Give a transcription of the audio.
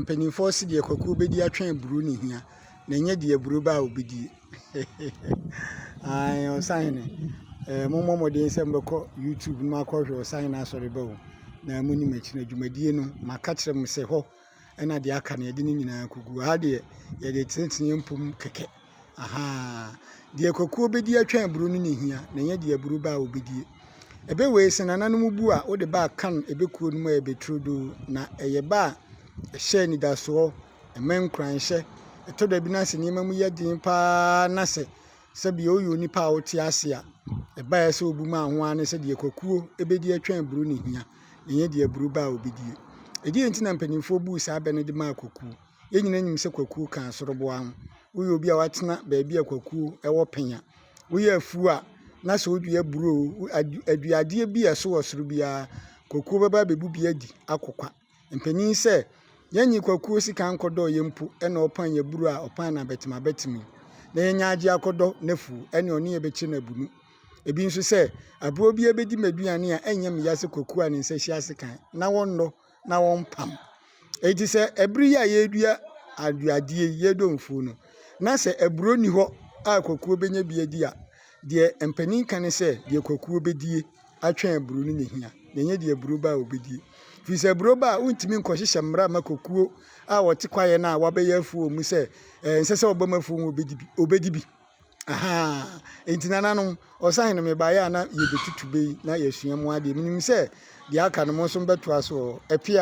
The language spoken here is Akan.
Mpanimfoɔ se deɛ kwaku bɛdi atwɛn aburo ne hia na ɛnyɛ deɛ aburo ba a ɔbɛdi. Ae Ɔsahene, eh, mommɔ mmɔden sɛ mobɛkɔ YouTube no akɔhwɛ Ɔsahene asɔre ba o na monim akyi na dwumadie no maka kyerɛ mo sɛ hɔ ɛna deɛ aka no yɛde ne nyinaa kɔgu ha deɛ yɛde tenetene mpom kɛkɛ Ahaa. Deɛ kwakuo bɛdi atwa aburo no na ɛhia na ɛnyɛ deɛ aburo ba a ɔbɛdie. Ɛbɛ wei sɛ nananom bu a wode ba a kan ɛbɛ kuo no mu a ɛbɛ turodoo na ɛyɛ ba a ɛhyɛ anidasoɔ, ɛma nkuranhyɛ. Ɛtɔ da bi na sɛ nneɛma mu yɛ den paa na sɛ sɛbia woyɛ onipa a wote ase a, ɛba a ɛyɛ sɛ wobu ma ho ara ne sɛ deɛ kwakuo bɛdi atwa aburo na ɛhia na ɛnyɛ deɛ aburo ba a ɔbɛdie. Ɛdeɛn nti na mpanimfoɔ buu saa bɛ no de maa kwakuo? Yɛn nyinaa nim sɛ kwakuo ka asoroboa ho. Woyɛ obi a woatena baabi a kwakuo wɔ pɛn a, woyɛ afuo a, na sɛ wodua aburo o, aduadeɛ bi a ɛso wɔ soro biara, kwakuo bɛba abɛbu bi adi akokwa. Mpanin sɛ, yɛnnye kwakuo sika nkɔdɔ yɛn mpo na ɔpan yɛn aburo a, ɔpan no abɛtem abɛtem. Na yɛnya agye akɔdɔ n'afuo ne ɔne yɛn bɛkyerɛ no abunu. Ebi nso sɛ, aburo bi abɛdi m'aduane a, ɛnyɛ me ya sɛ kwakuo a ne nsa hyia ase kan, na wɔnnɔ na wɔmpam. Enti sɛ ɛbere yi a yɛredua aduadeɛ yi, yɛredɔ mfuo no, na sɛ aburoo nni hɔ a kwakuo bɛnya bi adi a, deɛ mpanin ka ne sɛ deɛ kwakuo bɛdie atwɛn aburoo no na ɛhia, na ɛnyɛ deɛ aburoo ba a ɔbɛdie. Firi sɛ aburoo ba a wontumi nkɔhyehyɛ mmara ma kwakuo a wɔte kwaeɛ no a wɔabɛyɛ afuo wɔ mu sɛ ɛnsɛ sɛ wɔbam afuo mu ɔbɛdi bi. Ahaa, enti nananom, ɔsahene no mebaeɛ a na yɛbɛtutu bɛ yi na yɛasua mu adeɛ. Menim sɛ deɛ aka no mo nso mobɛtoa so wɔ hɔ. Apia.